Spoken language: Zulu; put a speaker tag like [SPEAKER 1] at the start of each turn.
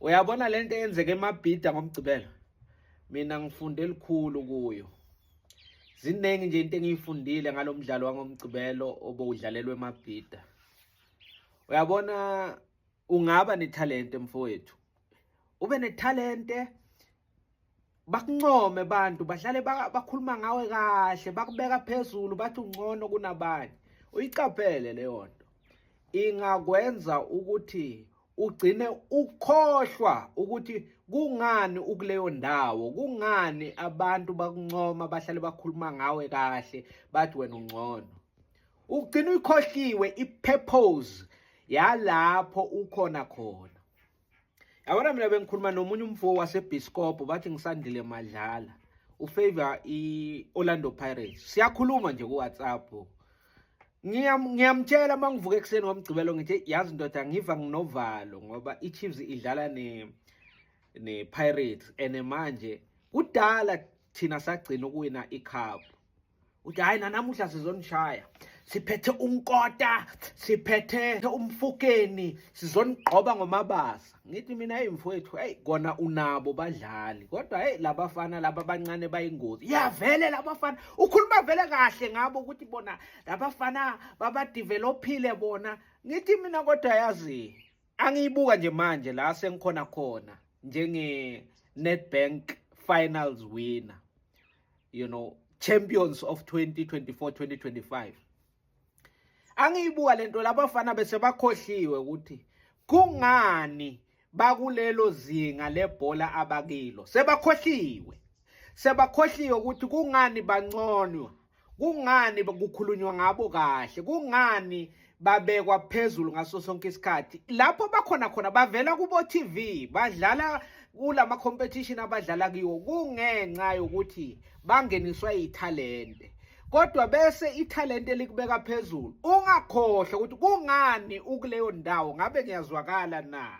[SPEAKER 1] uyabona le nto eyenzeka emabhida ngomgcibelo mina ngifunde elikhulu kuyo ziningi nje into engiyifundile ngalo mdlalo wangomgcibelo obowudlalelwe emabhida uyabona ungaba nethalente mfowethu ube nethalente bakuncome abantu bahlale bakhuluma ngawe kahle bakubeka phezulu bathi ungcono kunabanye uyiqaphele leyo nto ingakwenza ukuthi ugcine ukhohlwa ukuthi kungani ukuleyo ndawo kungani abantu bakuncoma bahlale bakhuluma ngawe kahle bathi wena ungcono ugcina uyikhohliwe i-purpose yalapho ukhona khona yabona mina bengikhuluma nomunye umfo wasebiskopo bathi ngisandile madlala ufavor i-orlando pirates siyakhuluma nje kuwhatsapp ngiyamtshela uma ngivuka ekuseni ngomgcibelo ngithi yazi ndoda ngiva nginovalo ngoba i-chiefs idlala ne-pirates and manje kudala thina sagcina ukuwina ikhaphu uthi hayi nanamuhla sizonishaya siphethe unkota siphethe umfukeni sizonigqoba ngomabasa ngithi mina hey mfowethu hey kona unabo badlali kodwa hey labafana laba bancane bayingozi yavele labafana ukhuluma vele kahle ngabo ukuthi bona labafana babadevelophile bona ngithi mina kodwa yazi angiyibuka nje manje la sengikhona khona njenge Nedbank finals winner you know champions of 2024 2025 angiyibuka lento labafana bese bakhohliwe ukuthi kungani bakulelo zinga lebhola abakilo sebakhohliwe sebakhohliwe ukuthi kungani banconwa kungani kukhulunywa ngabo kahle kungani babekwa phezulu ngaso sonke isikhathi lapho bakhona khona bavela kubo TV badlala kulama competition abadlala kiwo kungenxa yokuthi bangeniswa ithalente kodwa bese ithalente likubeka phezulu ungakhohle ukuthi kungani ukuleyo ndawo ngabe ngiyazwakala na